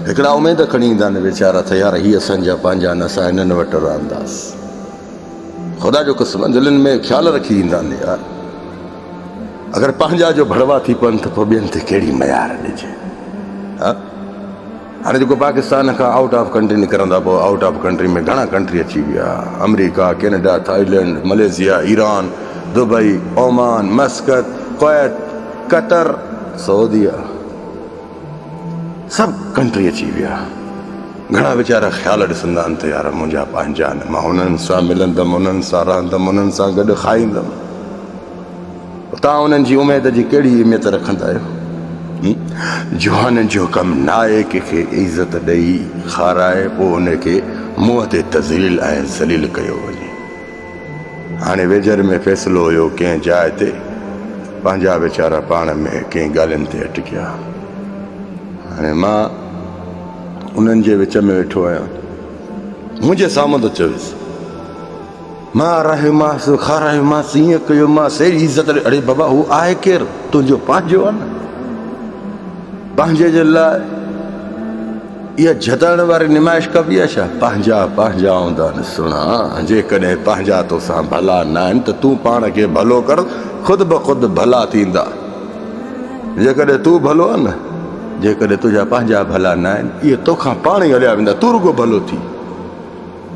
هڪڙا اميد کڻي ايندا نه ويچارا ته يار هي اسان جا پنهنجا نه اسان هنن وٽ رهنداس خدا جو قسم دلين ۾ خيال رکي ايندا نه يار اگر پنهنجا جو ڀڙوا ٿي پون ته پوء ٻين تي ڪهڙي ميار ڏجي ها هاڻي جيڪو پاڪستان کان آئوٽ آف ڪنٽري نڪرندا پوء آئوٽ آف ڪنٽري ۾ گهڻا ڪنٽري اچي ويا آمريڪا Canada Thailand Malaysia Iran Dubai Oman Muscat Kuwait Qatar سعوديه سڀ ڪنٽري اچي ويا. گهڻا ويچارا خيال ڏسندا آهن ته يار منهنجا پنهنجا آهن، مان انهن سان ملندم، انهن سان رهندم، انهن سان گڏ کائيندم. پر توهان انهن جي اميد جي ڪهڙي اهميت رکندا آهيو؟ جوانن جو ڪم نه آهي ڪنهن کي عزت ڏئي، کارائي پوء ان کي منهن تي تذليل ۽ ذليل ڪيو وڃي. هاڻي ويجهر ۾ فيصلو هيو ڪنهن جاء تي پنهنجا ويچارا پاڻ ۾ ڪئين ڳالهين تي اٽڪيا. هاڻي مان انهن جي وچ ۾ ويٺو آهيان. منهنجي سامهون ته چويس. مان آرايومانس کارايومانس ايئن ڪيومانس اهڙي عزت ڏي اڙي بابا هو آهي ڪير تنهنجو پنهنجو آهي نه پنهنجي جي لاء اها جهتائڻ واري نمائش ڪبي آهي ڇا؟ پنهنجا پنهنجا هوندا نه سهڻا، جيڪڏهن پنهنجا توسان ڀلا ناهن ته تون پاڻ کي ڀلو ڪر، خود بخود ڀلا ٿيندا. جيڪڏهن تون ڀلو آهين نه، جيڪڏهن تنهنجا پنهنجا ڀلا ناهن، اهي توکان پاڻ ئي هليا ويندا، تون رڳو ڀلو ٿي.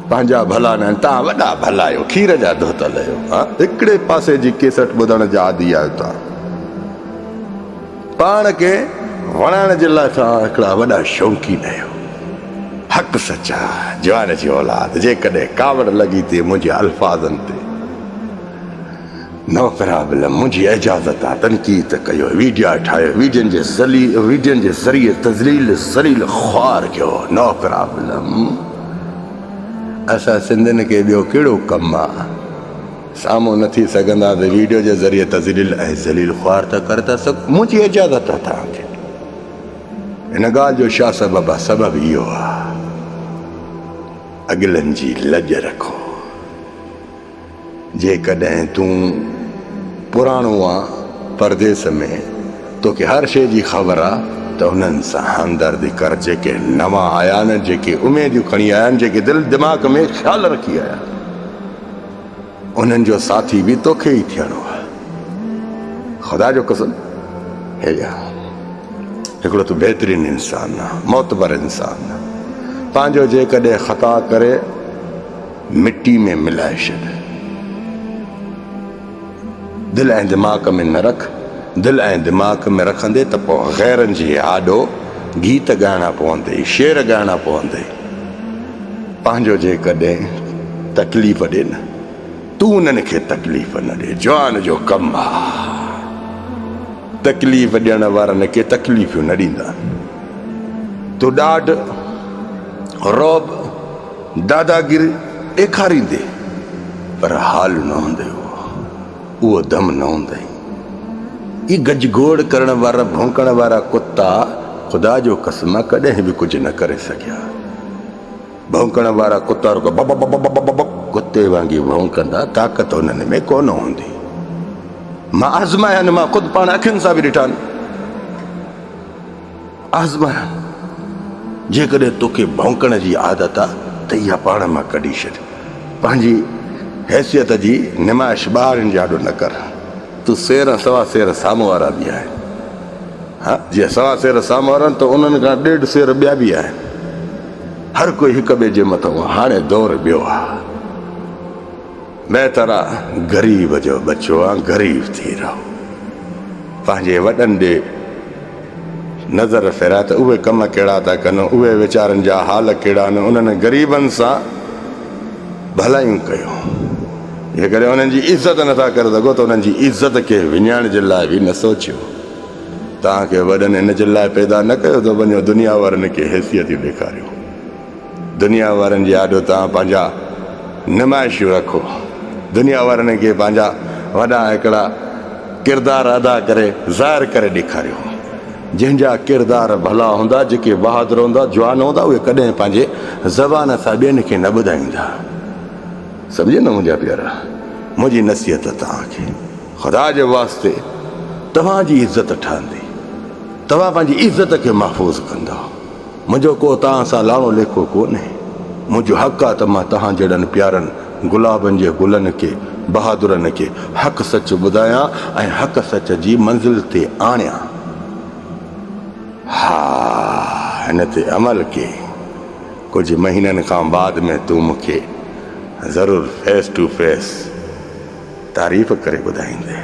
پنهنجا ڀلا ناهن، توهان وڏا ڀلا آهيو، کير جا ڌوتل آهيو. هڪڙي پاسي جي ڪيسٽ ٻڌڻ جا عادي آهيو توهان. پاڻ کي وڻائڻ جي لاء توهان هڪڙا وڏا شوقين آهيو. حق سچ آ جوان جي اولاد جيڪڏهن ڪاوڙ لڳي تي منهنجي الفاظن تي نوپرا به نه منهنجي اجازت آ تنقيد ته ڪيو ويڊيا ٺاهيو ويڊين جي ويڊين جي ذريعي تذليل ذليل خوار ڪيو نوپرا به نه اسان سنڌين کي ٻيو ڪهڙو ڪم آ. سامهون نه ٿي سگهندا ته ويڊيو جي ذريعي تذليل ۽ ذليل خوار ته ڪري ٿا سگهون منهنجي اجازت آهي توهان کي ان ڳالهه جو شاهه سبب آهي سبب اهو آهي اڳلن جي لڄ رکو جيڪڏهن تون پراڻو آ پرديس ۾ توکي هر شيء جي خبر آ ته انهن سان همدردي ڪر جيڪي نوان آيا آهن جيڪي اميديون کڻي آيا آهن جيڪي دل دماغ ۾ خيال رکي آيا انهن جو ساٿي به توکي ئي ٿيڻو آهي. خدا جو قسم هي يار هڪڙو تون بهترين انسان آهي معتبر انسان آهي پنهنجو جيڪڏهن خطا ڪري مٽي ۾ ملائي ڇڏ. دل ۽ دماغ ۾ نه رک، دل ۽ دماغ ۾ رکندي ته پوء غيرن جي آڏو گيت ڳائڻا پوندي، شعر ڳائڻا پوندي. پنهنجو جيڪڏهن تڪليف ڏي نه، تون انهن کي تڪليف نه ڏي، جوان جو ڪم آ. تڪليف ڏيڻ وارن کي تڪليفيون نه ڏيندا. تون ڏاڍ، رعب، داداگيري ڏيکاريندي پر حال نه هوندي هو اهو دم نه هوندئي اي گج گوڙ ڪرڻ وارا ڀونڪڻ وارا ڪتا خدا جو قسم ڪڏهن به ڪجهه نه ڪري سگهيا ڀونڪڻ وارا ڪتا رڳو بب بب بب بب بب ڪتي وانگي ڀونڪندا طاقت انهن ۾ ڪونه هوندي مان آزمايان مان خود پاڻ اکين سان به ڏٺان آزمايان، جيڪڏهن توکي ڀونڪڻ جي عادت آ ته اها پاڻ مان ڪڍي ڇڏ. پنهنجي حيثيت جي نمائش ٻاهرين جي آڏو نه ڪر. تون سير سوا سير سامهون وارا به آهن. ها جي سوا سير سامهون وارا آهن ته انهن کان ڏيڍ سير ٻيا به آهن. هر ڪوئي هڪ ٻئي جي مٿئون آ. هاڻي دور ٻيو آ. مين ترا غريب جو ٻچو آن غريب ٿي رهو پنهنجي وڏن ڏي نظر ڦيرائي ته اهي ڪم ڪهڙا ٿا ڪن اهي ويچارن جا حال ڪهڙا آهن انهن غريبن سان ڀلائيون ڪيو جيڪڏهن انهن جي عزت نٿا ڪري سگهو ته انهن جي عزت کي وڃائڻ جي لاء به نه سوچيو توهان کي وڏن ان جي لاء پيدا نه ڪيو ته وڃو دنيا وارن کي حيثيتيون ڏيکاريو دنيا وارن جي آڏو توهان پنهنجا نمائشون رکو. دنيا وارن کي پنهنجا وڏا هڪڙا ڪردار ادا ڪري ظاهر ڪري ڏيکاريو. جنهن جا ڪردار ڀلا هوندا، جيڪي بهادر هوندا، جوان هوندا اهي ڪڏهن پنهنجي زبان سان ٻين کي نه ٻڌائيندا. سمجهيو نه منهنجا پيارا. منهنجي نصيحت توهان کي خدا جي واسطي توهان جي عزت ٺهندي. توهان پنهنجي عزت کي محفوظ ڪندؤ. منهنجو ڪو توهان سان لاڙو ليکو ڪونهي، منهنجو حق آ ته مان توهان جهڙن پيارن گلابن جي گلن کي، بهادرن کي حق سچ ٻڌايان ۽ حق سچ جي منزل تي آڻيان. ها هن تي عمل ڪي. ڪجهه مهينن کان بعد ۾ تون مون کي ضرور فيس ٽو فيس تعريف ڪري ٻڌائيندين.